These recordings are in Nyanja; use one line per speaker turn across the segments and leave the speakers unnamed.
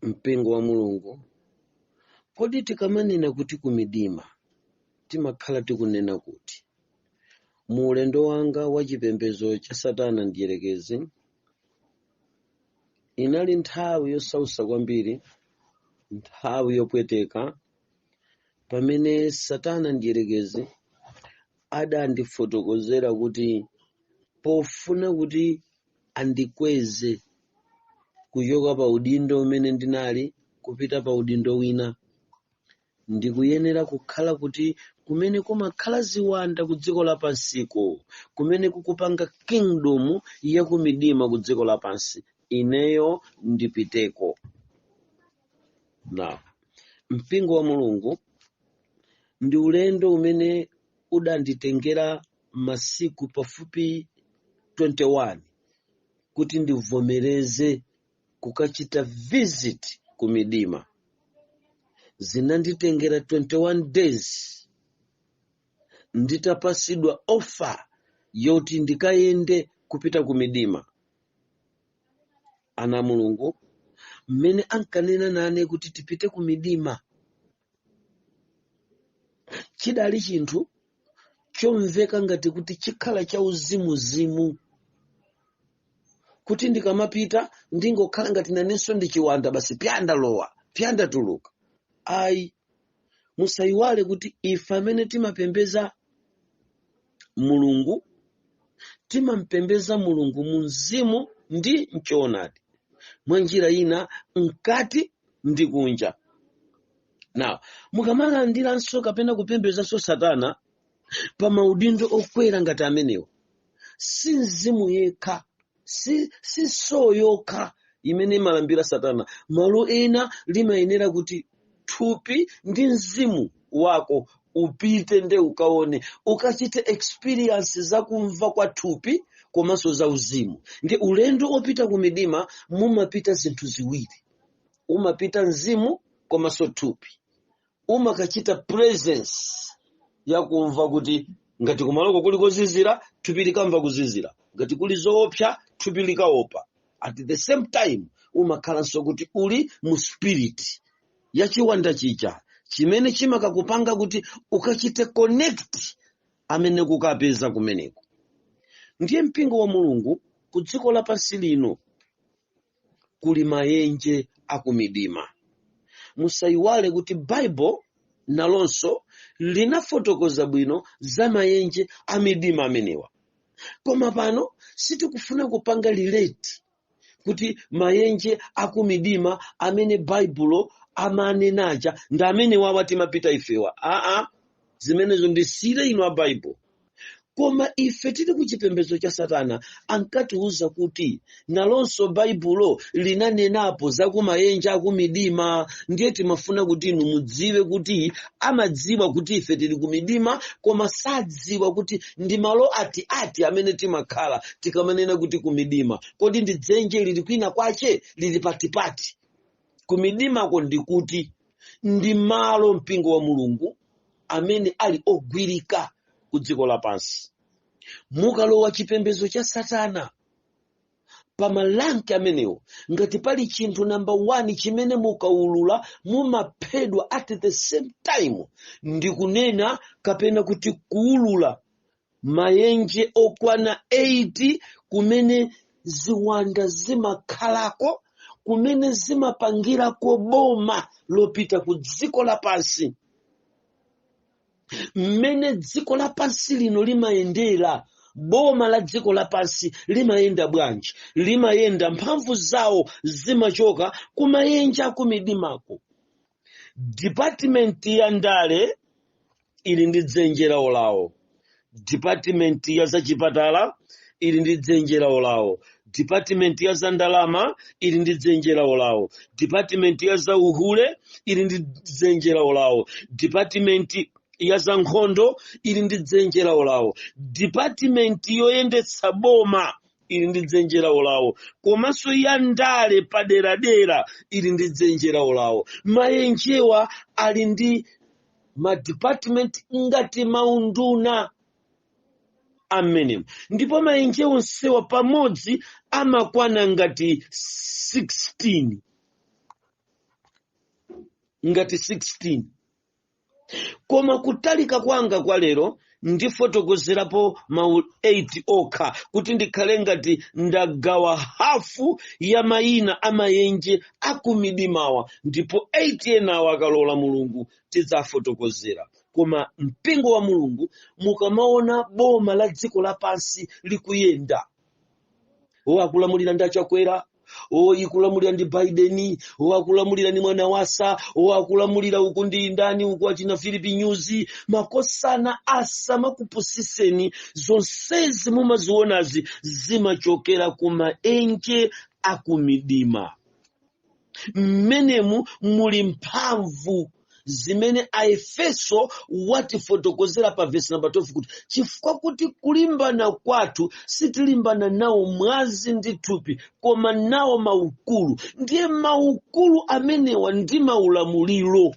mpingo wa mulungu kodi tikamanena kuti kumidima timakhala tikunena kuti mu ulendo wanga wa chipembedzo cha satana mdyerekezi inali nthawi yosausa kwambiri nthawi yopweteka pamene satana mdyerekezi adandifotokozera kuti pofuna kuti andikweze kuchoka pa udindo umene ndinali kupita pa udindo wina ndikuyenera kukhala kuti kumene kumakhala ziwanda ku dziko lapansi ku kumene kukupanga kingdom yakumidima ku dziko lapansi ineyo ndipiteko now mpingo wa mulungu ndi ulendo umene udanditengera masiku pafupi 21 kuti ndivomereze kukachita visit ku midima zinanditengera 21 days nditapasidwa offer yoti ndikayende kupita ku midima ana a mulungu mmene ankanena nane kuti tipite ku midima chidali chinthu chomveka ngati kuti chikhala cha uzimuzimu kuti ndikamapita ndingokhala ngati nanenso ndi chiwanda basi pya ndalowa pya ndatuluka ayi musayiwale kuti ife amene timapembeza mulungu timampembeza mulungu mu mzimu ndi mchoonadi mwa njira ina mkati ndi kunja now mukamalandiranso kapena kupembezanso satana pa maudindo okwera ngati amenewo si mzimu yekha si soul yokha imene imalambira satana malo ena limayenera kuti thupi ndi mzimu wako upite nde ukaone ukachite experience za kumva kwa thupi komanso za uzimu nde ulendo opita ku midima mumapita zinthu ziwiri umapita mzimu komanso thupi umakachita presence yakumva kuti ngati kumaloko kuli kozizira thupi likamva kuzizira ngati kuli zoopsa thupi likaopa at the same time umakhalanso kuti uli mu spirit ya chiwanda chija chimene chimakakupanga kuti ukachite connect amene ukapeza kumeneko ndiye mpingo wa mulungu ku dziko lapansi lino kuli mayenje akumidima musayiwale kuti baibulo nalonso linafotokoza bwino za mayenje amidima amenewa koma pano sitikufuna kupanga relate kuti mayenje akumidima amene baibulo amanenaja ndi amenewa timapita ifewa aa zimenezo ndisiyire inu a baibulo koma ife tili ku chipembedzo cha satana ankatiuza kuti nalonso baibulo linanenapo za kumayenje akumidima ndiye timafuna kuti inu mudziwe kuti amadziwa kuti ife tili ku midima koma sadziwa kuti ndi malo ati ati amene timakhala tikamanena kuti ku midima kodi ndi dzenje lili kwina kwache lili patipati kumidimako ndikuti ndi malo mpingo wa mulungu amene ali ogwirika ku dziko lapansi mukalowa chipembedzo cha satana pa malanki amenewo ngati pali chinthu namba 1 chimene mukaulula mumaphedwa at the same time ndi kunena kapena kuti kuulula mayenje okwana 8 kumene ziwanda zimakhalako kumene zimapangirako boma lopita ku dziko lapansi mmene dziko lapansi lino limayendera boma la dziko lapansi limayenda bwanji limayenda mphamvu zawo zimachoka kumayenje akumidimako dipatimenti ya ndale ili ndi dzenje lawo lawo dipatimenti ya zachipatala ili ndi dzenje lawo lawo dipatimenti ya za ndalama ili ndi dzenje lawo lawo dipatimenti ya za uhule ili ndi dzenje lawo lawo dipatimenti ya za nkhondo ili ndi dzenje lawo lawo dipatimenti yoyendetsa boma ili ndi dzenje lawo lawo komanso ya ndale paderadera ili ndi dzenje lawo lawo mayenjewa ali ndi madipatimenti ngati maunduna mmenemo ndipo mayenje onsewa pamodzi amakwana ngati 16 ngati 16 koma kutalika kwanga kwa lero ndifotokozerapo mawu 8 okha kuti ndikhale ngati ndagawa hafu ya mayina a mayenje akumidimawa ndipo 8 enawa akalola mulungu tidzafotokozera koma mpingo wa mulungu mukamaona boma la dziko lapansi likuyenda o akulamulira ndi achakwera o ikulamulira ndi biden o akulamulira ndi mwanawasa o akulamulira uku ndi ndani uku achina philip nyusi makosana asamakupusiseni zonsezi mumazionazi zimachokera ku maenje a kumidima mmenemu muli mphamvu zimene aefeso watifotokozera pa vesi namba 12 kuti chifukwa kuti kulimbana kwathu sitilimbana nawo mwazi ndi thupi koma nawo maukulu ndiye maukulu amenewa ndi maulamuliro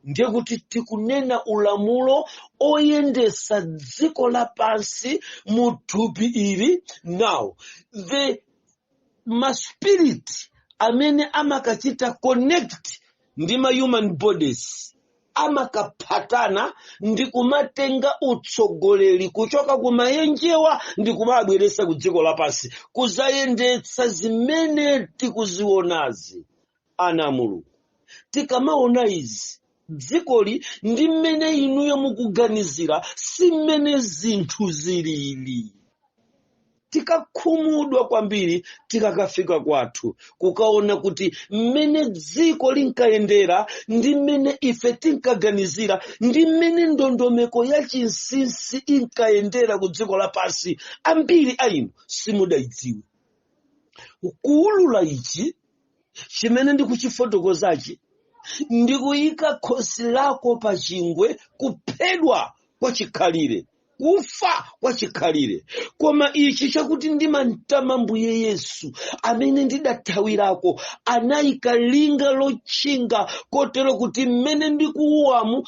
ndiye kuti tikunena ulamulo oyendesa dziko lapansi mu thupi ili now the maspirit amene amakachita connect ndi ma human bodies amakaphathana ndi kumatenga utsogoleri kuchoka ku maenjewa ndi kumabweresa ku dziko lapansi kuzayendetsa zimene tikuzionazi ana a mulungu tikamaona izi dzikoli ndi mmene inuyo mukuganizira si mmene zinthu zilili tikakhumudwa kwambiri tikakafika kwathu kukaona kuti mmene dziko linkayendera ndi mmene ife tinkaganizira ndi mmene ndondomeko ya chinsinsi inkayendera ku dziko lapansi ambiri a inu simudayidziwe kuulula ichi chimene ndikuchifotokozachi ndikuyika khosi lako pa chingwe kuphedwa kwa chikhalire kufa kwa chikhalire koma ichi chakuti ndimamtama mbuye yesu amene ndidathawirako anayika linga lotchinga kotero kuti mmene ndikuuwamu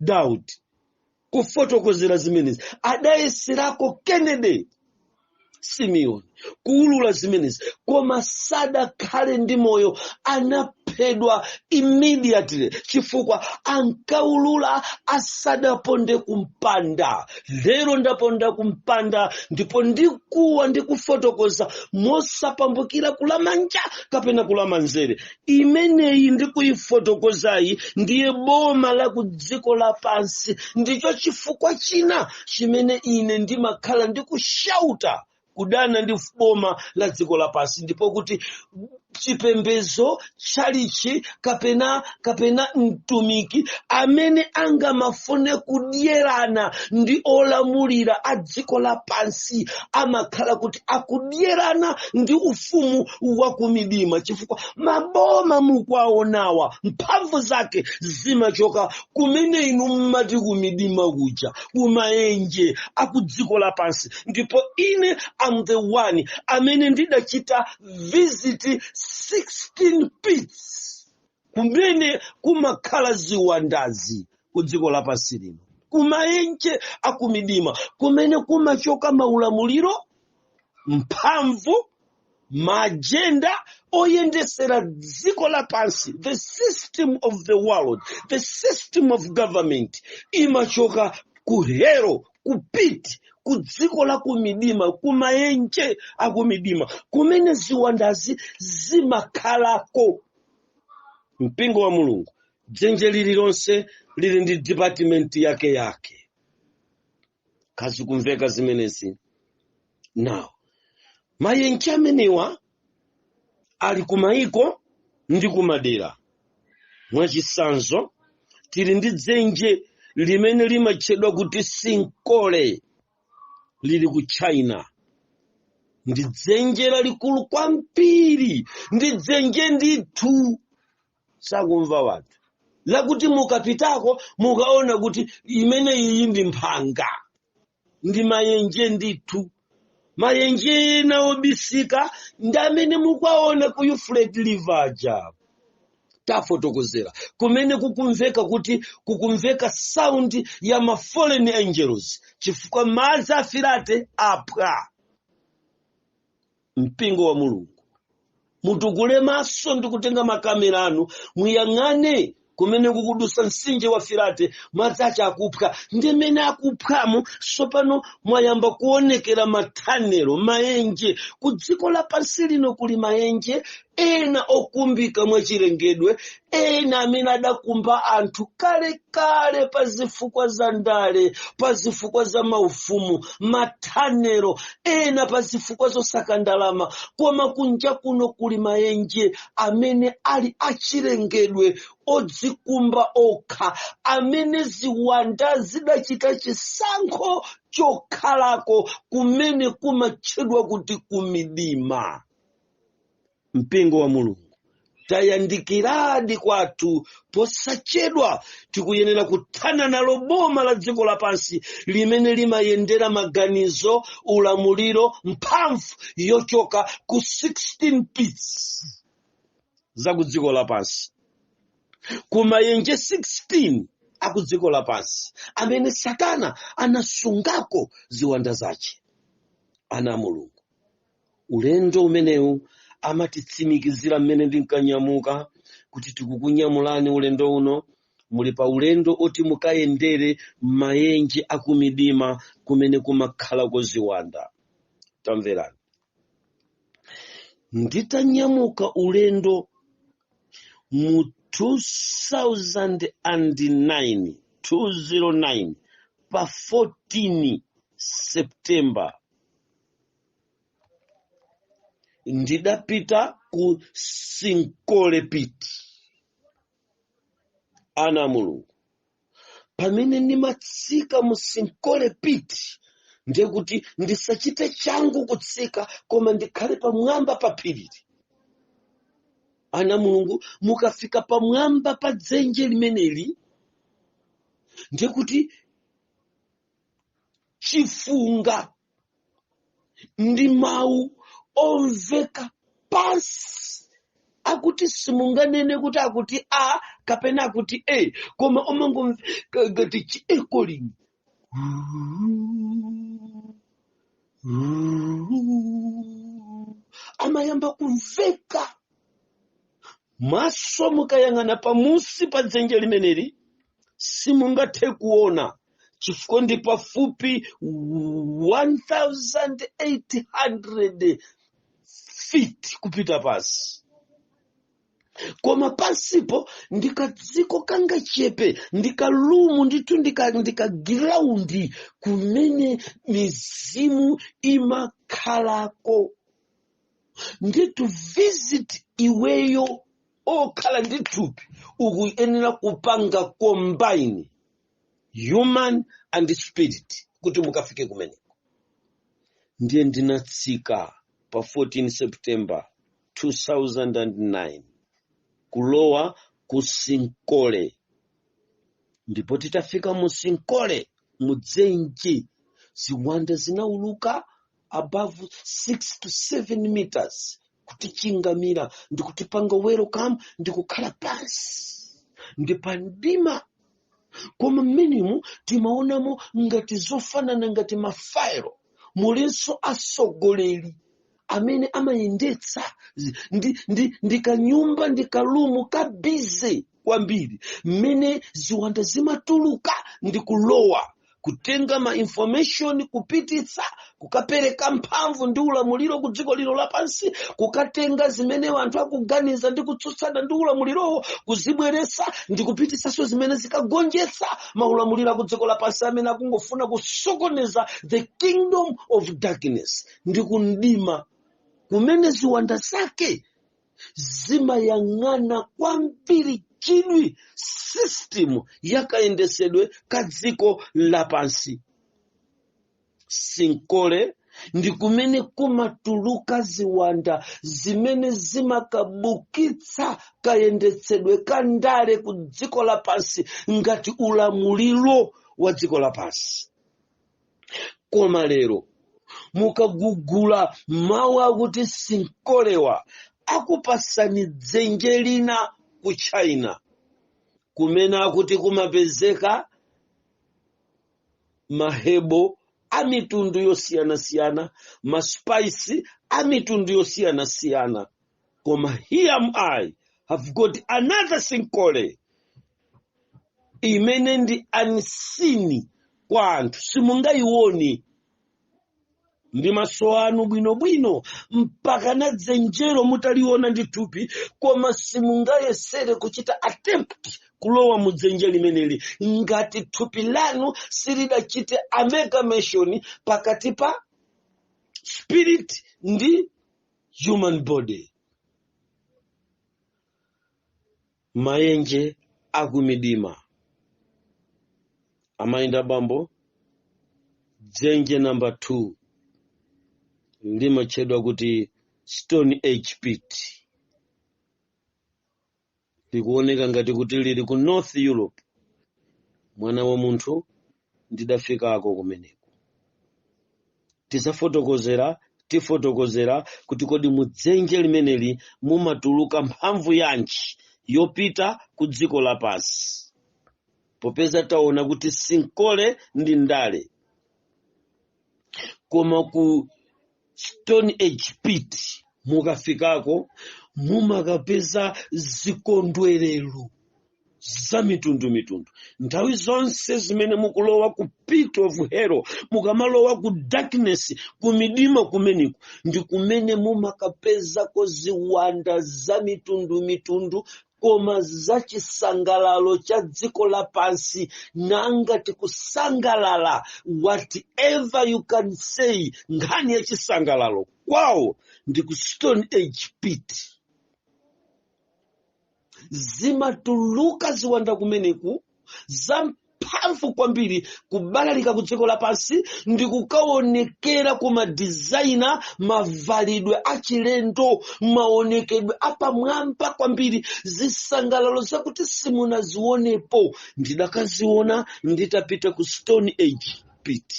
daud kufotokozera zimenezi adayeserako kennedy simeon kuulula zimenezi koma sadakhale ndi moyo anaphedwa immediately chifukwa ankaulula asadaponde kumpanda lero ndaponda kumpanda ndipo ndikuwa ndikufotokoza mosapambukira kulamanja kapena kulamanzere imeneyi ndikuyifotokozayi ndiye boma la ku dziko lapansi ndicho chifukwa china chimene ine ndimakhala ndikushauta kudana ndi boma la dziko lapansi ndipo kuti chipembezo tchalichi kapena kapena mtumiki amene angamafune kudyerana ndi olamulira a dziko lapansi amakhala kuti akudyerana ndi ufumu wa kumidima chifukwa maboma mukuwaonawa mphamvu zake zimachoka kumene inu mmati kumidima kuja kumaenje akudziko lapansi ndipo ine am the one amene ndidachita visit 16 pits kumene kumakhala ziwandazi ku dziko lapansi lino kumaenje akumidima kumene kumachoka maulamuliro mphamvu maajenda oyendesera dziko lapansi the system of the world the system of government imachoka ku hero ku pit ku dziko la kumidima kumaenje akumidima kumene ziwandazi zimakhalako mpingo wa mulungu dzenje lililonse lili ndi dipatimenti yake yake kazikumveka zimenezi now mayenje amenewa ali kumayiko ndi kumadera mwachisanzo tili ndi dzenje limene limatchedwa kuti sinkole lili ku china ndi dzenje lalikulu kwambiri ndi dzenje ndithu sakumva watu lakuti mukapitako mukaona kuti imene iyi ndi mphanga ndi mayenje ndithu mayenje ena obisika ndi amene mukuwaona ku Euphrates river ija tafotokozera kumene kukumveka kuti kukumveka sound ya ma fallen angels chifukwa madzi a firate aphwa mpingo wa mulungu mutukule maso ndi kutenga makamera anu muyang'ane kumene kukudusa mtsinje wa firate madzi ace akuphwa ndi mmene akuphwamo tsopano mwayamba kuonekera mathanelo maenje ku dziko lapansi lino kuli maenje ena okumbika mwachilengedwe ena amene adakumba anthu kale kale pa zifukwa za ndale pa zifukwa za maufumu mathanero ena pa zifukwa zosaka ndalama koma kunja kuno kuli mayenje amene ali achilengedwe odzikumba okha amene ziwanda zidachita chisankho chokhalako kumene kumatchedwa kuti kumidima mpingo wa mulungu tayandikiradi kwathu posachedwa tikuyenera kuthanana nalo boma la dziko lapansi limene limayendera maganizo ulamuliro mphamvu yochoka ku 16 pits za ku dziko lapansi kumayenje 16 aku dziko lapansi amene satana anasungako ziwanda zace ana a mulungu ulendo umenewu amatitsimikizira mmene ndinkanyamuka kuti tikukunyamulani ulendo uno muli pa ulendo oti mukayendere mayenje akumidima kumene kumakhalako ziwanda tamverani nditanyamuka ulendo mu 2009 pa 14 september ndidapita ku sinkolepiti ana a mulungu pamene ndimatsika mu sinkolepiti ndiye kuti ndisachite changu kutsika koma ndikhale pamwamba pa phirili ana a mulungu mukafika pamwamba pa dzenje limeneli ndiye kuti chifunga ndi mawu omveka pansi akuti simunganene kuti akuti a kapena akuti e koma omangomveka ngati chiekolini amayamba kumveka maso mukayang'ana pamusi pa dzenje limeneli simungathe kuona chifukwa ndi pafupi 1800 feet kupita pansi koma pansipo ndikadziko kangachepe ndikalumu ndithu ndikagiraundi kumene mizimu imakhalako ndi to visit iweyo okhala ndi thupi ukuyenera kupanga combine human and spirit kuti mukafike kumeneko ndiye ndinatsika pa 14 september 2009 kulowa ku sinkole ndipo titafika mu sinkole mudzenje ziwanda zinauluka above 6 to 7 meters kutichingamira ndikutipanga welcome ndikukhala pansi ndi pa mdima koma mmenemu timaonamo ngati zofanana ngati mafairo mulinso atsogoleri amene amayendetsa zi- ndi, ndi, ndi kanyumba ndi kalumu ka busy kwambiri mmene ziwanda zimatuluka ndi kulowa kutenga ma information kupititsa kukapereka mphamvu ndi ulamuliro ku dziko lino lapansi kukatenga zimene anthu akuganiza ndi kutsutsana ndi ulamulirowo kuzibweretsa ndi kupititsanso zimene zikagonjetsa maulamuliro aku dziko lapansi amene akungofuna kusokoneza the kingdom of darkness ndi kumdima kumene ziwanda zake zimayang'ana kwambiri chidwi system ya kayendetsedwe ka dziko lapansi sinkhole ndi kumene kumatuluka ziwanda zimene zimakabukitsa kayendetsedwe ka ndale ku dziko lapansi ngati ulamuliro wa dziko lapansi koma lero mukagugula mawu akuti sinkholewa akupatsani dzenje lina ku china kumene akuti kumapezeka mahebo a mitundu yosiyanasiyana maspice a mitundu yosiyanasiyana koma here am i have got another sinkhole imene ndi unseen kwa anthu simungayioni ndi maso anu bwinobwino mpakana dzenjero mutaliona ndi thupi koma simungayesere kuchita attempt kulowa mu dzenje limeneli ngati thupi lanu silidachite amalgamation pakati pa spirit ndi human body mayenje a kumidima amayenda abambo dzenje namba 2 limatchedwa kuti stone age pit likuoneka ngati kuti lili ku north europe mwana wa munthu ndidafikako kumeneko tisafotokozera tifotokozera kuti kodi mudzenje limeneli mumatuluka mphamvu yanji yopita ku dziko lapansi popeza taona kuti sinkhole ndi ndale koma ku stone age pit mukafikako mumakapeza zikondwerero za mitundu mitundu nthawi zonse zimene mukulowa ku pit of hell mukamalowa ku darkness ku midima kumeneko ndi kumene mumakapezako ziwanda za mitundu mitundu koma za chisangalalo cha dziko lapansi nanga tikusangalala whatever you can say nkhani ya chisangalalo kwawo ndi ku stone age pit zimatuluka ziwanda kumeneku zamphamvu kwambiri kubalalika ku dziko lapansi ndi kukaonekera ku madizaina mavalidwe achilendo maonekedwe apamwamba kwambiri zisangalalo zakuti simunazionepo ndidakaziona nditapita ku stone age pit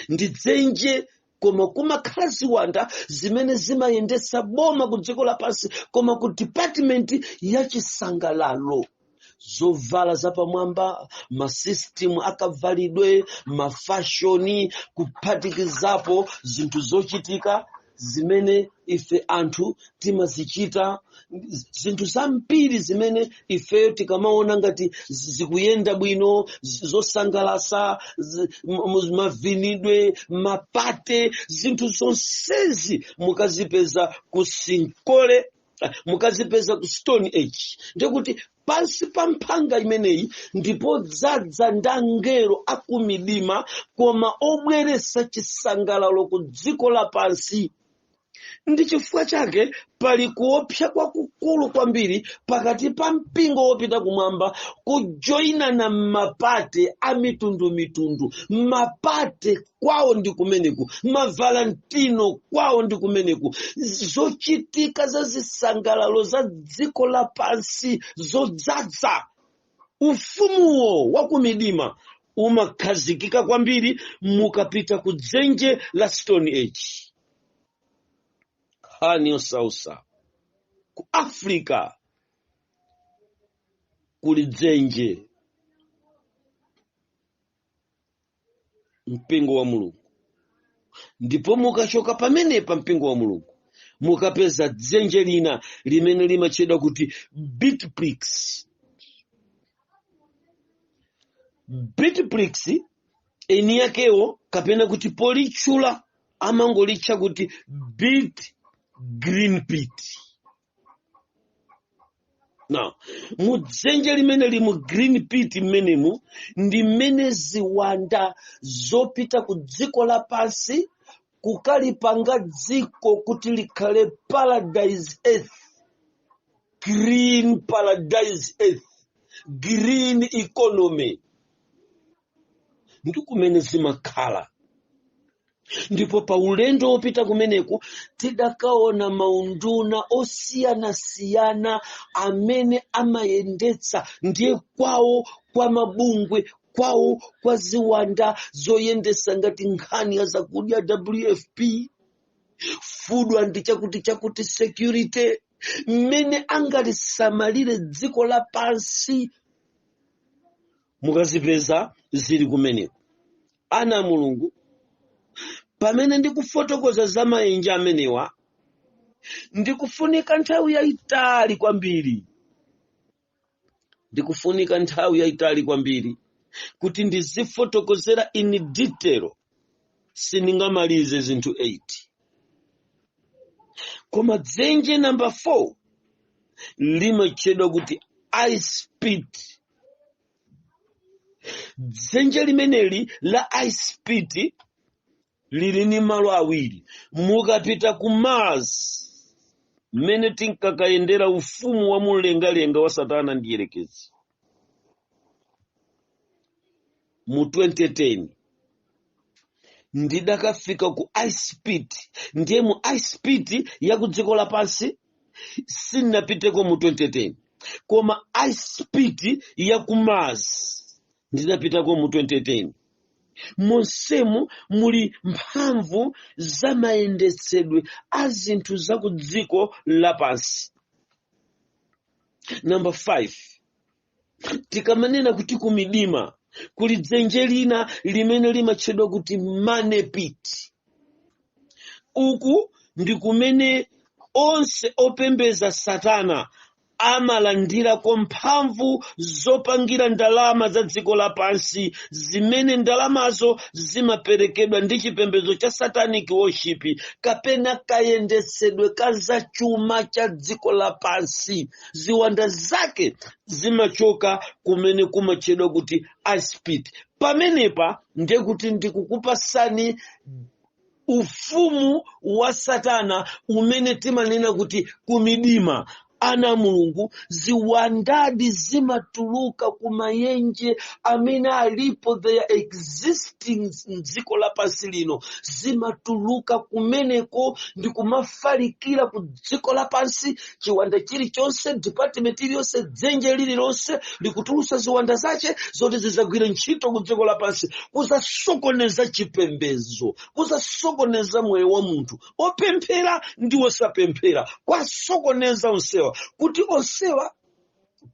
ndi dzenje koma kumakhala ziwanda zimene zimayendetsa boma ku dziko lapansi koma ku department ya chisangalalo zovala zapamwamba masisitimu akavalidwe mafashoni kuphatikizapo zinthu zochitika zimene ife anthu timazichita zinthu zambiri zimene ifeyo tikamaona ngati zi- zikuyenda bwino zi- zosangalasa zi- m- m- mavinidwe mapate zinthu zonsezi mukazipeza ku sinkole eh, mukazipeza ku stone age ndiye kuti pansi pa mphanga imeneyi ndi podzadza ndi angelo akumidima koma obweresa chisangalalo ku dziko lapansi ndi chifukwa chake pali kuopsa kwakukulu kwambiri pakati pa mpingo wopita kumwamba kujoyinana m'mapate a mitundumitundu mapate kwawo ndi kumeneku mavalentino kwawo ndi kumeneku zochitika za zisangalalo za dziko lapansi zodzadza ufumuwo wa kumidima umakhazikika kwambiri mukapita ku dzenje la stone age nkhani yosausa ku africa kuli dzenje mpingo wa mulungu ndipo mukachoka pamenepa mpingo wa mulungu mukapeza dzenje lina limene limatchedwa kuti bitplix bitplix eni yakewo kapena kuti politchula amangolitcha kuti bit green pit now mudzenje limeneli la green pit mmenemu ndi mmene ziwanda zopita ku dziko lapansi kukalipanga dziko kuti likhale paradise earth green paradise earth green economy ndi kumene zimakhala ndipo pa ulendo wopita kumeneku tidakaona maunduna osiyanasiyana amene amayendetsa ndiye kwawo kwa mabungwe kwawo kwa ziwanda zoyendesa ngati nkhani ya zakudya wfp food and chakuti chakuti security mmene angalisamalire dziko lapansi mukazipeza zili kumeneko ana a mulungu pamene ndikufotokoza za maenje amenewa ndikufunika nthawi yayitali kwambiri ndikufunika nthawi yayitali kwambiri kuti ndizifotokozera in detail sindingamalize zinthu 8 koma dzenje namba 4 limatchedwa kuti ice pit dzenje limeneli la ice pit lili ni malo awiri mukapita ku mars mmene tinkakayendera ufumu wa mumlengalenga wa satana ndi yerekezi mu 2010 ndidakafika ku ice pit ndiye mu ice pit ya ku dziko lapansi sinapiteko mu 2010 koma ice pit ya ku mars ndidapitako mu 2010 monsemu muli mphamvu za mayendetsedwe a zinthu za ku dziko lapansi namba 5 tikamanena kuti kumidima kuli dzenje lina limene limatchedwa kuti money pit uku ndi kumene onse opembeza satana amalandirako mphamvu zopangira ndalama za dziko lapansi zimene ndalamazo zimaperekedwa ndi chipembedzo cha satanic worship kapena kayendetsedwe ka zachuma cha dziko lapansi ziwanda zake zimachoka kumene kumatchedwa kuti ice pit pamenepa ndiye kuti ndikukupasani ufumu wa satana umene timanena kuti kumidima ana a mulungu ziwandadi zimatuluka kumayenje amene alipo they are existing mdziko lapansi lino zimatuluka kumeneko ndi kumafalikira ku dziko lapansi chiwanda chilichonse department iliyonse dzenje lililonse likutulusa ziwanda zace zoti zizagwire ntchito ku dziko lapansi kuzasokoneza chipembedzo kuzasokoneza moyo wa munthu opemphera ndi osapemphera kwasokoneza onsewa kuti onsewa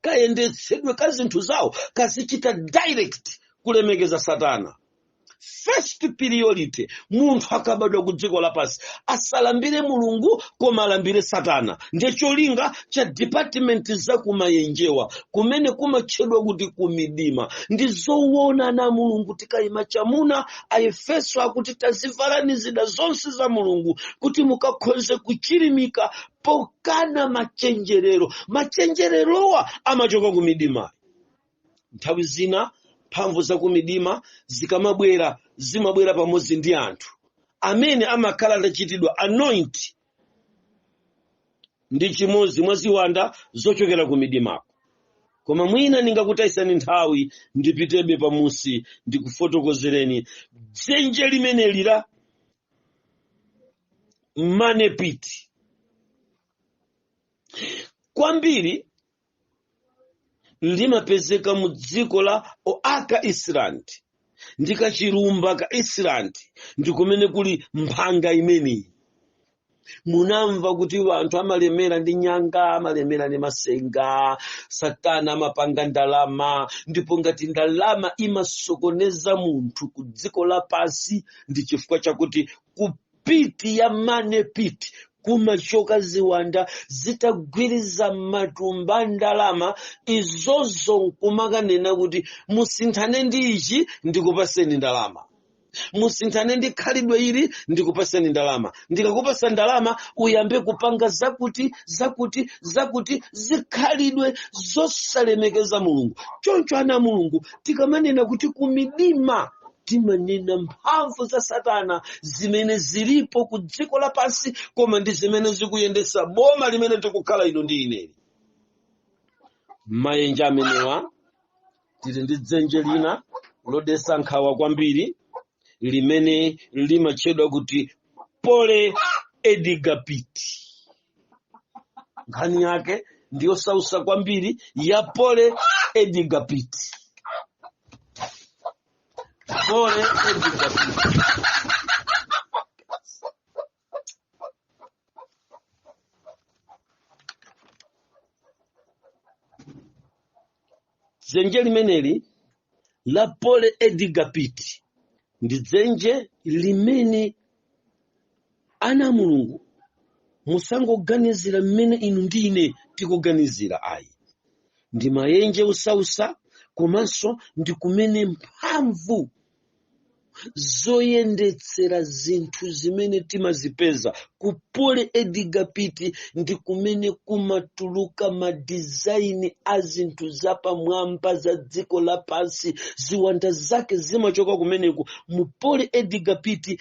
kayendetsedwe ka zinthu zawo kazichita direct kulemekeza satana first priority munthu akabadwa ku dziko lapansi asalambire mulungu koma alambire satana ndiye cholinga cha department za kumayenjewa kumene kumatchedwa kuti kumidima ndi zoona ana a mulungu tikayima chamuna aefeso akuti tazivalani zida zonse za mulungu kuti mukakhoze kuchirimika pokana machenjerero machenjererowa amachoka kumidima Nthawi zina mphamvu za kumidima zikamabwera, zimabwera pamodzi ndi anthu amene amakhala adachitidwa anoint ndi chimodzi mwa ziwanda zochokera ku midimako. Koma mwina ndingakutayitseni nthawi ndipitebe pamusi ndikufotokozereni dzenje limeneli la money pit. Kwambiri limapezeka mu dziko la oak island ndi kachilumba ka island ndi kumene kuli mphanga imeneyi munamva kuti anthu amalemera ndi nyanga amalemera ndi masenga satana amapanga ndalama ndipo ngati ndalama imasokoneza munthu ku dziko lapansi ndi chifukwa chakuti ku- pit ya money pit kumachoka ziwanda zitagwiriza matumba a ndalama izozo nkumakanena kuti musinthane ndi ichi ndikupaseni ndalama musinthane ndi khalidwe ili ndikupaseni ndalama ndikakupasa ndalama uyambe kupanga zakuti zakuti zakuti zikhalidwe zosalemekeza mulungu choncho ana a mulungu tikamanena kuti kumidima timanena mphamvu za satana zimene zilipo ku dziko lapansi koma ndi zimene zikuyendesa boma limene tikukhala inu ndi ineli mayenje amenewa tili ndi dzenje lina lodesa nkhawa kwambiri limene limatchedwa kuti pole edgar pit nkhani yake ndi yosausa kwambiri ya pole edgar pit Pole edgar pit. dzenje limeneli la pole edgar pit ndi dzenje limene ana a mulungu musangoganizira mmene inu ndi ine tikuganizira ayi ndi mayenje osausa komanso ndi kumene mphamvu zoyendetsera zinthu zimene timazipeza ku pole edgar pit ndi kumene kumatuluka madizaini a zinthu zapamwamba za dziko lapansi ziwanda zake zimachoka kumeneku mu pole edgar pit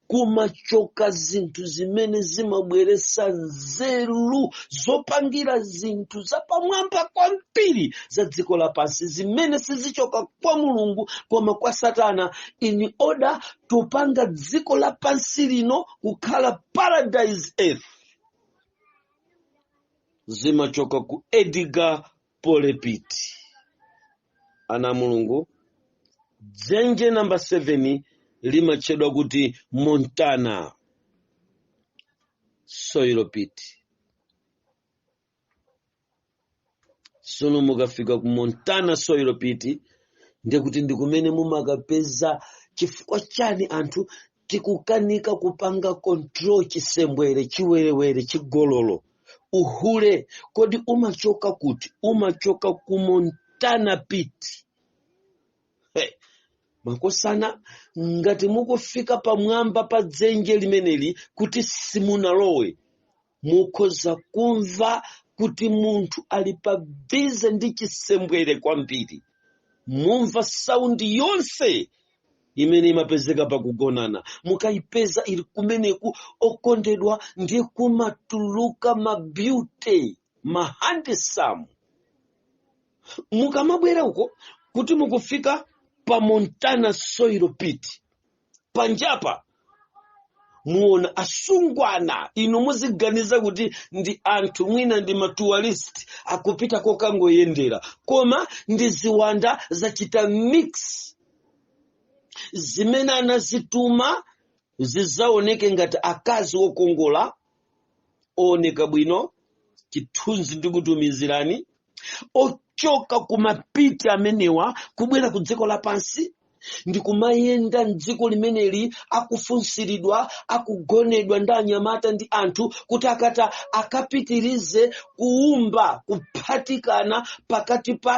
kumachoka zinthu zimene zimabweretsa nzeru zopangira zinthu zapamwamba kwambiri za dziko lapansi zimene sizichoka kwa mulungu koma kwa satana in order tupanga dziko lapansi lino kukhala paradise earth zimachoka ku edgar pole pit ana a mulungu dzenje namba 7 limatchedwa kuti montana soil pit sono mukafika ku montana soil pit ndekuti ndi kumene mumakapeza chifukwa chani anthu tikukanika kupanga control chisembwere chiwerewere chigololo uhule kodi umachoka kuti umachoka ku montana pit ee makosana ngati mukufika pamwamba pa dzenje limeneli kuti simunalowe mukhoza kumva kuti munthu ali pa bize ndi chisembwere kwambiri mumva saundi yonse imene imapezeka pakugonana mukayipeza ili kumeneku okondedwa ndi kumatuluka mabeauty mahandsome mukamabwera uko kuti mukufika pa montana soil pit panjapa muona asungwana inu muziganiza kuti ndi anthu mwina ndi matourist akupita kukangoyendera koma ndi ziwanda zachita mix zimene anazituma zidzaoneke ngati akazi okongola ooneka bwino chithunzi ndikutumizirani ochoka ku mapiti amenewa kubwera ku dziko lapansi ndi kumayenda mdziko limeneli akufunsiridwa akugonedwa ndi anyamata ndi anthu kuti akata akapitirize kuumba kuphatikana pakati pa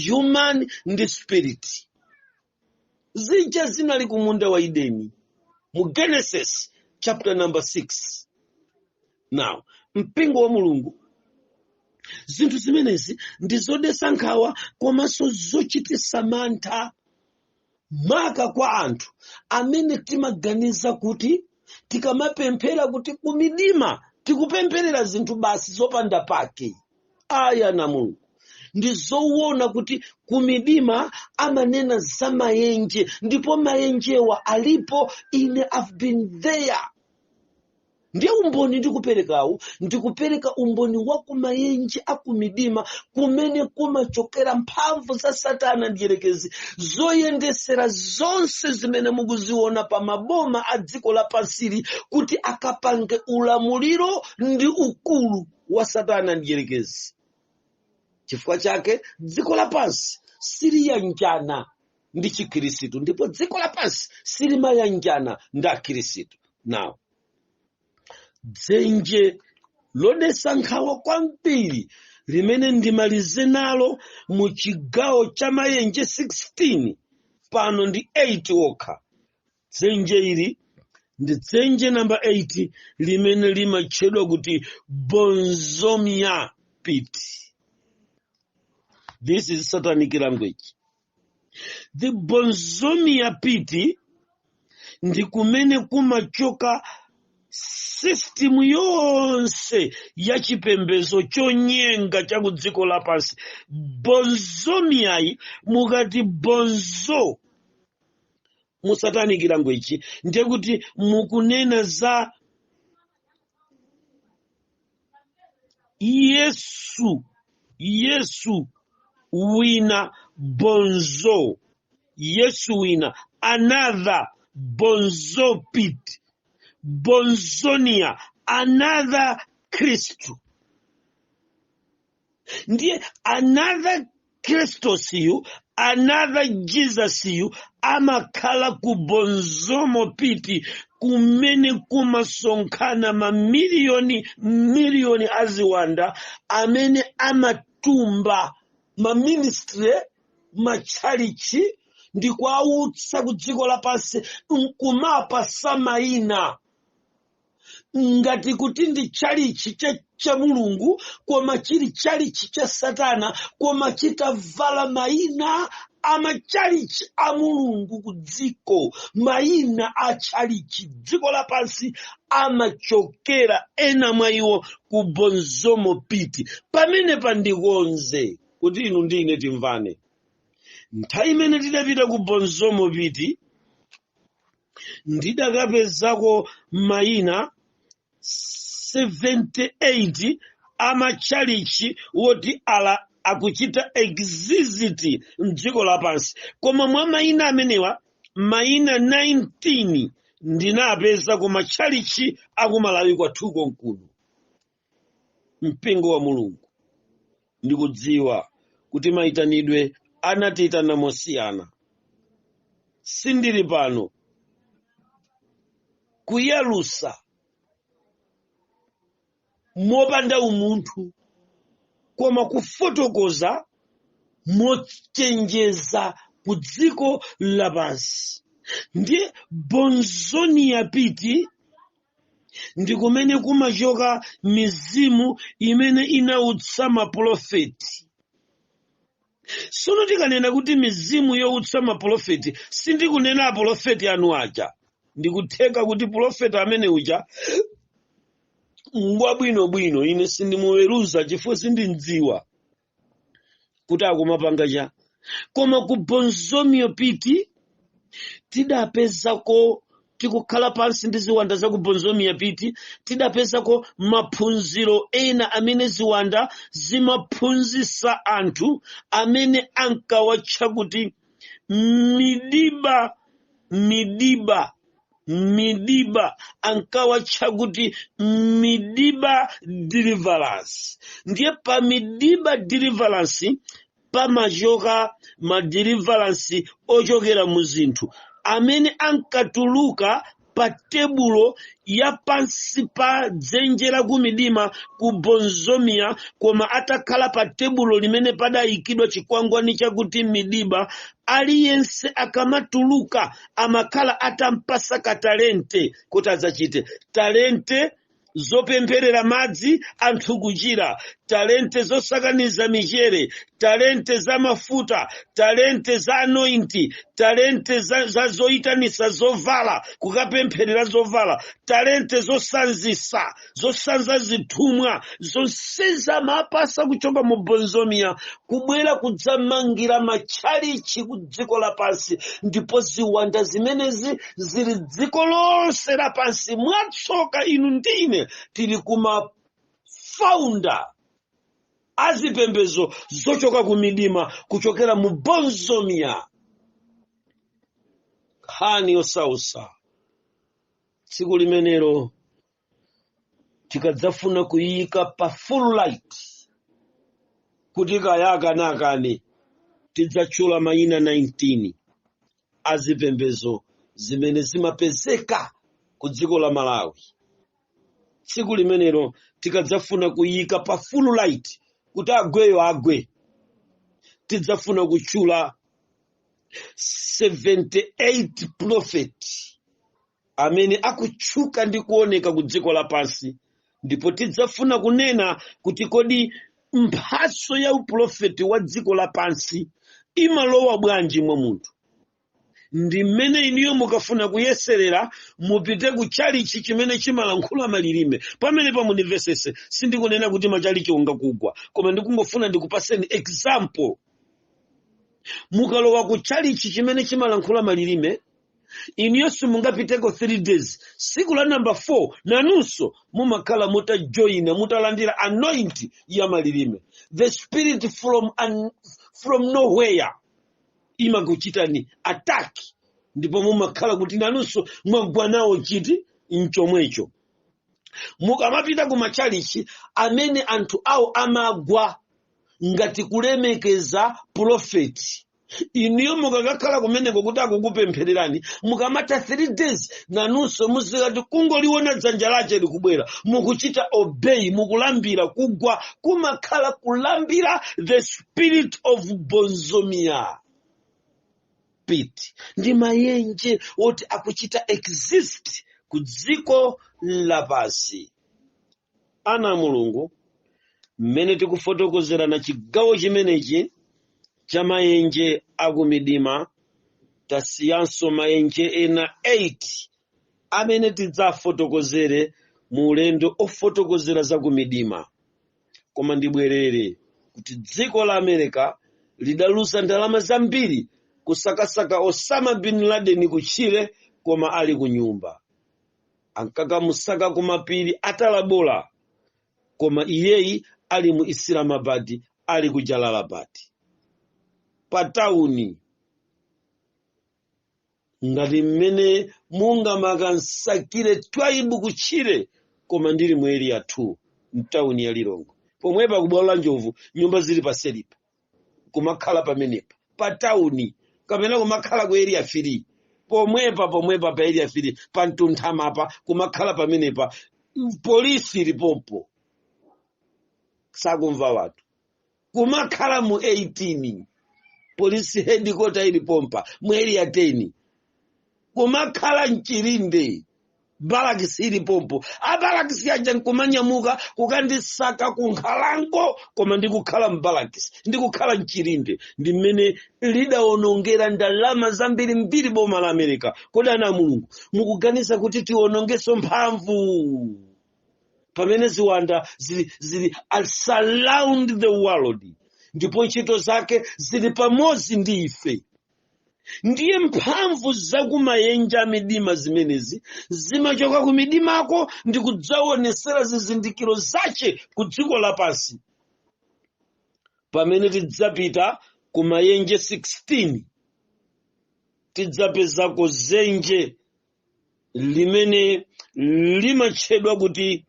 human ndi spirit zija zinali ku munda wa edeni mu genesis chapter number 6 now mpingo wa mulungu zinthu zimenezi ndi zodesa nkhawa komanso zochitisa mantha maka kwa anthu amene timaganiza kuti tikamapemphera kuti kumidima tikupempherera zinthu basi zopanda pake ayi ana a mulungu ndi zowona kuti kumidima amanena za mayenje ndipo mayenjewa alipo ine i've been there ndiye umboni ndikuperekawu ndikupereka umboni wa kumayenje akumidima kumene kumachokera mphamvu za satana mdyerekezi zoyendesera zonse zimene mukuziona pa maboma a dziko lapansili kuti akapange ulamuliro ndi ukulu wa satana mdyerekezi chifukwa chake dziko lapansi siliyanjana ndi chikhirisitu ndipo dziko lapansi silimayanjana ndi akhirisitu now dzenje lodesa nkhawa kwambiri limene ndimalize nalo mu chigawo cha mayenje 16 pano ndi 8 okha dzenje ili ndi dzenje number 8 limene limatchedwa kuti bonzomia pit this is satanic language the bonzomia pit ndi kumene kumachoka system yonse ya chipembedzo chonyenga cha ku dziko lapansi bonzomiyayi mukati bonzo mu satanic language ndiye kuti mukunena za yesu yesu wina bonzo yesu wina another bonzo pit bonzonia another kristu ndiye another kristos yu another jesus yu amakhala ku bonzomo piti kumene kumasonkhana mamiliyoni miliyoni aziwanda amene amatumba maministry machalichi ndi kuwawutsa ku dziko lapansi nkumapatsa mayina ngati kuti ndi tchalichi cha, cha mulungu koma chili tchalichi cha satana koma chitavala mayina a matchalichi a mulungu ku dziko mayina a tchalichi dziko lapansi amachokera ena mwa iwo ku bonzomo piti pamene pandikonze kuti inu ndi ine timvane nthawi imene tidapita ku bonzomo piti ndidakapezako mayina 78 amatchalichi woti ala akuchita exist mdziko lapansi koma mwa mayina amenewa mayina 19 ndinapeza ku matchalichi akumalawi kwathu konkuno mpingo wa mulungu ndikudziwa kuti mayitanidwe anatiyitana mosiyana sindili pano kuyalusa mopanda umunthu koma kufotokoza mochenjeza ku dziko lapansi ndiye bonzomiya piti ndi kumene kumachoka mizimu imene inautsa mapulofeti sono tikanena kuti mizimu youtsa mapulofeti sindikunena apulofeti anu aja ndikutheka kuti pulofeti ameneuja ngwabwinobwino ine sindimuweruza chifukwa sindimdziwa kuti akumapanga cha koma ku bonzomio piti tidapezako tikukhala pansi ndi ziwanda za ku bonzomia piti tidapezako maphunziro ena amene ziwanda zimaphunzisa anthu amene ankawatcha kuti midiba midiba midiba ankawatcha kuti midiba deliverance ndiye pa midiba deliverance pamachoka ma deliverance ochokera mu zinthu amene ankatuluka pa tebulo ya pansi pa dzenje la kumidima ku bonzomiya koma atakhala pa tebulo limene padayikidwa chikwangwani chakuti midiba aliyense akamatuluka amakhala atampasa ka talente kuti adzachite talente zopempherera madzi anthu kuchira talente zosakaniza mchere talente za mafuta talente za anointi talente za, za zoyitanisa zovala kukapempherera zovala talente zosanzisa zosanza zithumwa zonsezi amapatsa kuchoka mu bonzomiya kubwera kudzamangira machalichi ku dziko lapansi ndipo ziwanda zimenezi zili dziko lonse lapansi mwatsoka inu ndine tili kuma founder azipembezo zochoka ku midima kuchokera mu bonzomiya nkhani yosausa tsiku limenelo tikadzafuna kuyiyika pa full light kuti kaya akane akane tidzatchula mayina 19 a zipembedzo zimene zimapezeka ku dziko la malawi tsiku limenelo tikadzafuna kuyiyika pa full light kuti agweyo agwe tidzafuna kutchula 78 prophet amene akutchuka ndi kuoneka ku dziko lapansi ndipo tidzafuna kunena kuti kodi mphatso ya upulofeti wa dziko lapansi imalowa bwanji mwa munthu ndi mmene inuyo mukafuna kuyeserera mupite ku chalichi chimene chimalankhula malilime pamene pa munimvetsetse sindikunena kuti machalichi ungakugwa koma ndikungofuna ndikupaseni example mukalowa ku chalichi chimene chimalankhula malilime inuyo simungapiteko 3 days siku la namba 4 nanunso mumakhala mutajoyina mutalandira anointing ya malilime the spirit from nowhere imakuchitani attack ndipo mumakhala kuti nanunso mwagwa nawo chiti mchomwecho mukamapita ku machalichi amene anthu awo amagwa ngati kulemekeza pulofeti inuyo mukakakhala kumeneko kuti akukupemphererani mukamatha 3 days nanunso muzikati kungoliona dzanja lache likubwera mukuchita obey mukulambira kugwa kumakhala kulambira the spirit of bonzomia pit ndi mayenje oti akuchita exist ku dziko lapansi ana a mulungu mmene tikufotokozerana chigawo chimenechi cha mayenje akumidima tasiyanso mayenje ena 8 amene tidzafotokozere mu ulendo ofotokozera za kumidima koma ndibwerere kuti dziko la america lidaluza ndalama zambiri kusakasaka osama bin laden kutchire koma ali ku nyumba ankakamusaka ku mapiri a tora bora koma iyeyi ali mu islamabad ali ku jalalabad pa tawuni ngati mmene mungamakansakire twaibu kutchire koma ndili mu area 2 mtawuni ya lilongwe pomwepa kubwalo la njovu nyumba zili paselipo kumakhala pamenepa pa tauni kapena kumakhala ku area 3 pomwepa pomwepa pa area 3 pa mtunthamapa kumakhala pamenepa polisi ili pompo sakumva wathu kumakhala mu 18 polisi headquarter ili pompa mu area 10 kumakhala mchilinde barakisi ili pompo abarakisi aja nkumanyamuka kukandisaka ku nkhalango koma ndikukhala mbarakisi ndikukhala mchirinde ndi mmene lidawonongera ndalama zambiri mbiri boma la america kodi ana a mulungu mukuganiza kuti tiwonongeso mphamvu pamene ziwanda zili, zili surround the world ndipo ntchito zake zili pamodzi ndi ife ndiye mphamvu zakumayenje amidima zimenezi zimachoka ku midimako ndi kudzaonesera zizindikiro zace ku dziko lapansi pamene tidzapita ku mayenje 16 tidzapezako zenje limene limatchedwa kuti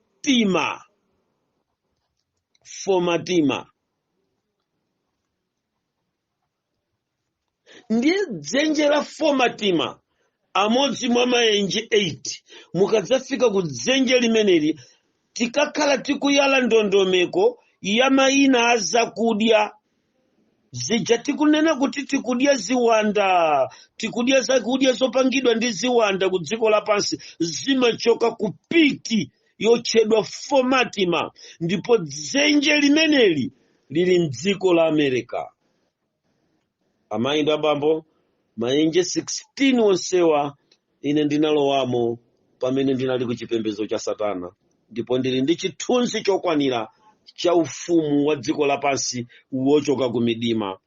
fomatima fomatima ndiye dzenje la fomatima amodzi mwa mayenje 8 mukadzafika ku dzenje limeneli tikakhala tikuyala ndondomeko ya mayina a zakudya zija tikunena kuti tikudya ziwanda tikudya zakudya zopangidwa ndi ziwanda ku dziko lapansi zimachoka kupiti yotchedwa fomatima ndipo dzenje limeneli lili mdziko la america amayi ndi abambo mayenje 16 onsewa ine ndinalowamo pamene ndinali ku chipembedzo cha satana ndipo ndili ndi chithunzi chokwanira cha ufumu wa dziko lapansi wochoka ku midima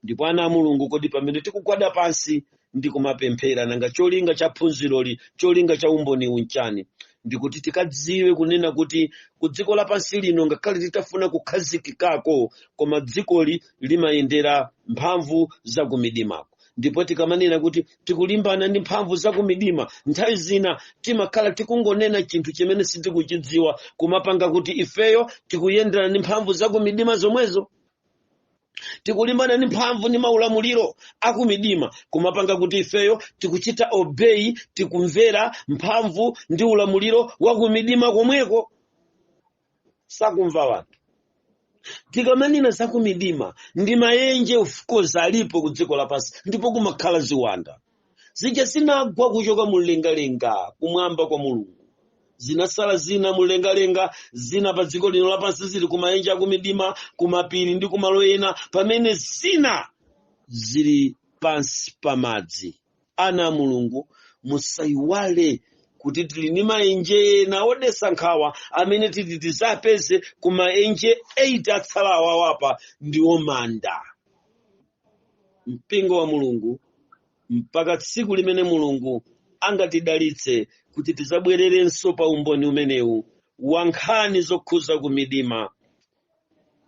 ndipo ana a mulungu kodi pamene tikugwada pansi ndi kumapemphera nanga cholinga cha phunziroli cholinga cha umboniwu nchani ndikuti tikadziwe kunena kuti ku dziko lapansi lino ngakhale titafuna kukhazikikako koma dzikoli limayendera mphamvu za kumidimako ndipo tikamanena kuti tikulimbana ndi mphamvu za kumidima nthawi zina timakhala tikungonena chinthu chimene sitikuchidziwa kumapanga kuti ifeyo tikuyendana ndi mphamvu za kumidima zomwezo tikulimbana ndi mphamvu ndi maulamuliro akumidima kumapanga kuti ifeyo tikuchita obey tikumvera mphamvu ndi ulamuliro wakumidima komweko sakumva wanthu tikamanena zakumidima ndi mayenje of course alipo ku dziko lapansi ndipo kumakhala ziwanda zija zinagwa kuchoka mumlengalenga kumwamba kwa mulungu zinasala zina mumlengalenga zina pa dziko lino lapansi zili kumaenje akumidima kumapiri ndi kumalo ena pamene zina zili pansi pa madzi ana a mulungu musayiwale kuti tili ndi maenje ena odesa nkhawa amene titi tidzapeze ku maenje 8 atsala awawapa ndiwo manda mpingo wa mulungu mpaka tsiku limene mulungu angatidalitse kuti tidzabwererenso pa umboni umenewu wa nkhani zokhuza ku midima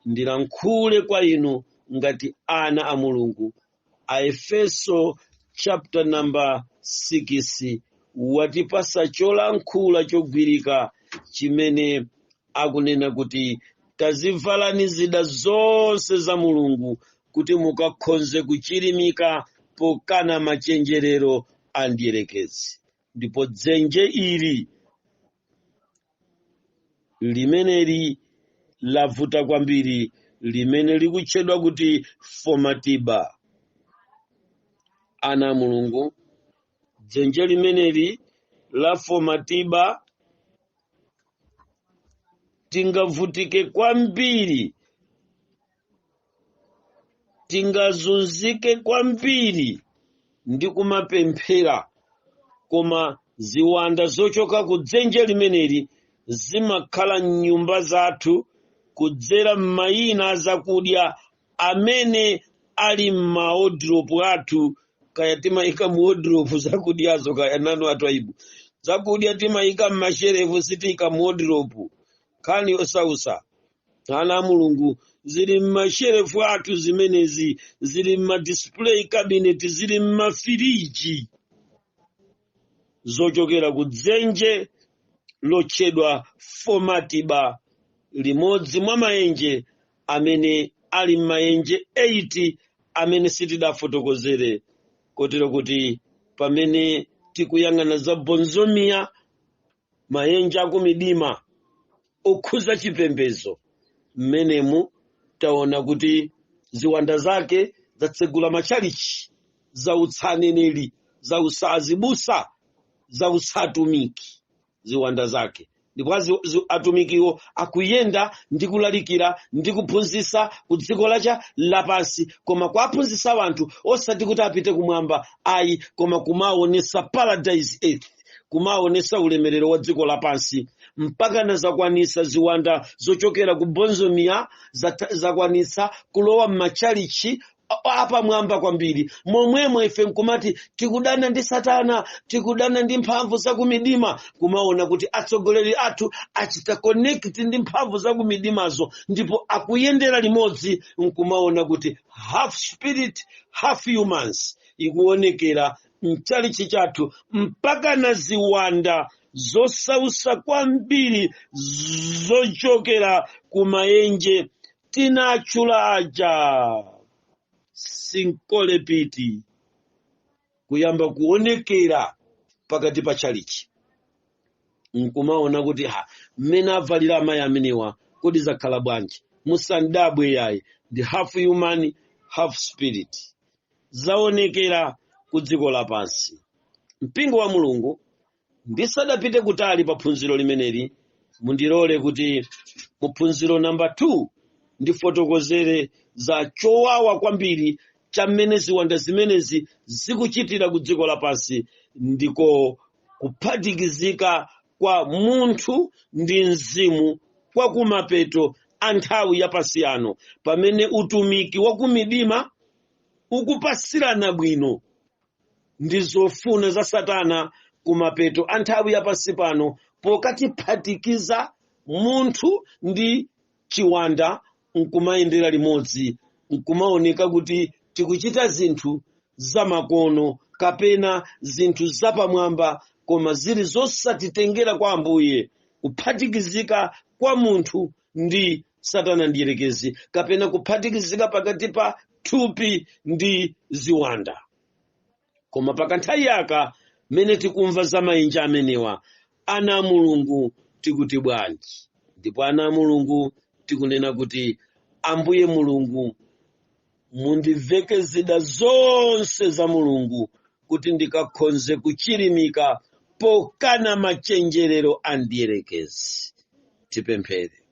ndilankhule kwa inu ngati ana a mulungu aefeso chapter number 6 watipasa cholankhula chogwirika chimene akunena kuti tazivalani zida zonse za mulungu kuti mukakhonze kuchirimika pokana machenjerero a mdierekezi ndipo dzenje ili limeneli lavuta kwambiri limene likutchedwa kuti fomatiba ana a mulungu dzenje limeneli la fomatiba tingavutike kwambiri tingazunzike kwambiri ndi kumapemphera koma ziwanda zochoka ku dzenje limeneli zimakhala m'nyumba zathu kudzera m'mayina a zakudya amene ali m'maodropu athu kaya timayika mu odropu zakudyazo kaya nanu atwaibu zakudya timayika m'masherefu sitiika mu odropu nkhani yosausa ana a mulungu zili m'masherefu athu zimenezi zili m'madisplay cabinet zili m'mafiriji zochokera ku dzenje lotchedwa fomatiba limodzi mwa maenje amene ali m'mayenje 8 amene sitidafotokozere kotero kuti pamene tikuyang'ana za bonzomiya mayenje akumidima okhuza chipembezo mmenemu taona kuti ziwanda zake zatsegula machalichi zautsa aneneri zautsa azibusa zautsa atumiki ziwanda zake ndipo azi- zi- atumikiwo akuyenda ndi kulalikira ndi kuphunzitsa ku dziko lacha lapansi koma kuwaphunzitsa anthu osati kuti apite kumwamba ayi koma kumaonesa paradise earth kumaonesa ulemerero wa dziko lapansi mpaka nazakwanisa ziwanda zochokera ku bonzomiya zata- zakwanisa kulowa m'machalichi a- apamwamba kwambiri momwemo ife nkumati tikudana ndi satana tikudana ndi mphamvu zakumidima kumaona kuti atsogoleri athu achita connect ndi mphamvu zakumidimazo ndipo akuyendera limodzi nkumaona kuti half spirit half humans ikuonekera mchalichi chathu mpaka na ziwanda zosausa kwambiri zochokera kumayenje tinatchula aja sinkhole pit kuyamba kuonekera pakati pa tchalichi nkumaona kuti ha mmene avalira amayi amenewa kodi zakhala bwanji musandabwe yayi ndi half human half spirit zaonekera ku dziko lapansi mpingo wa mulungu ndisadapite kutali pa phunziro limeneli mundilole kuti mu phunziro namba 2 ndifotokozere za chowawa kwambiri cha mmene ziwanda zimenezi zikuchitira ku dziko lapansi ndiko kuphatikizika kwa munthu ndi mzimu kwa kumapeto a nthawi yapansi yano pamene utumiki wa kumidima ukupasirana bwino ndi zofuna za satana kumapeto a nthawi ya pansi pano pokatiphatikiza munthu ndi chiwanda nkumayendera limodzi nkumaoneka kuti tikuchita zinthu zamakono kapena zinthu zapamwamba koma zili zosatitengera kwa ambuye kuphatikizika kwa munthu ndi satana mdierekezi kapena kuphatikizika pakati pa thupi ndi ziwanda koma pakanthawi aka mmene tikumva za mayenje amenewa ana a mulungu tikuti bwanji ndipo ana a mulungu tikunena kuti ambuye mulungu mundiveke zida zonse za mulungu kuti ndikakhonze kuchirimika pokana machenjerero a mdierekezi tipemphere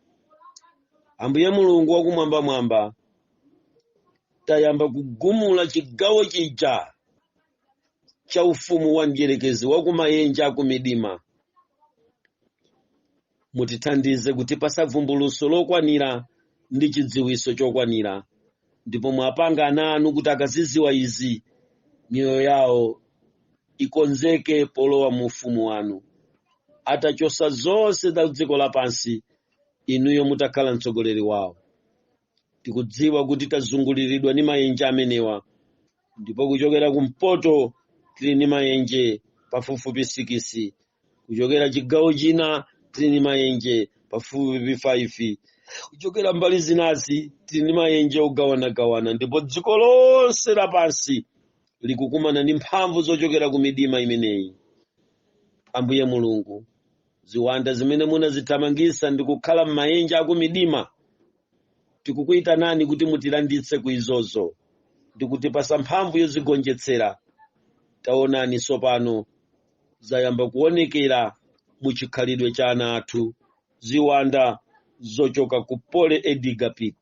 ambuye mulungu wakumwambamwamba tayamba kugumula chigawo chija cha ufumu wa mdierekezi wakumayenje akumidima mutithandize kutipasa vumbuluso lokwanira ndi chidziwiso chokwanira ndipo mwapanga ana anu kuti akaziziwa izi miyoyo yawo ikonzeke polowa mu ufumu wanu atachosa zonse za dziko lapansi inuyo mutakhala mtsogoleri wawo tikudziwa kuti tazunguliridwa ni mayenje amenewa ndipo kuchokera kumpoto tili ni mayenje pafupifupi sikisi kuchokera chigawo china tili ni mayenje pafupifupi 5 kuchokera mbali zinazi tili ni mayenje ogawanagawana ndipo dziko lonse lapansi likukumana ndi mphamvu zochokera ku midima imeneyi ambuye mulungu ziwanda zimene munazithamangisa ndi kukhala m'mayenje akumidima tikukuyitanani kuti mutilanditse ku izozo ndi kutipasa mphamvu yozigonjetsera taonani tsopano zayamba kuonekera mu chikhalidwe cha ana athu, ziwanda zochoka ku Pole Edgar Pit,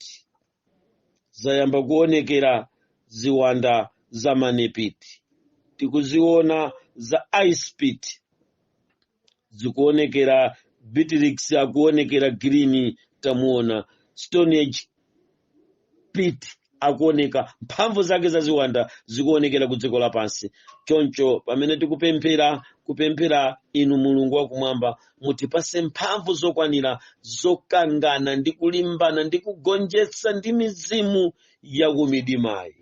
zayamba kuonekera ziwanda za Money Pit, tikuziona za Ice Pit, zikuonekera Bitrix akuonekera Green, tamuona Stone Age pit akuoneka mphamvu zake za ziwanda zikuonekera ku dziko lapansi choncho pamene tikupemphera kupemphera inu mulungu wakumwamba mutipase mphamvu zokwanira zokangana ndi kulimbana ndi kugonjetsa ndi mizimu yakumidimayi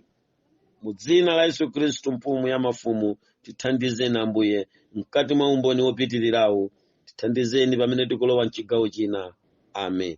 mu dzina la yesu khristu mfumu ya mafumu tithandizeni ambuye mkati mwa umboni wopitirirawo tithandizeni pamene tikulowa mchigawo china amen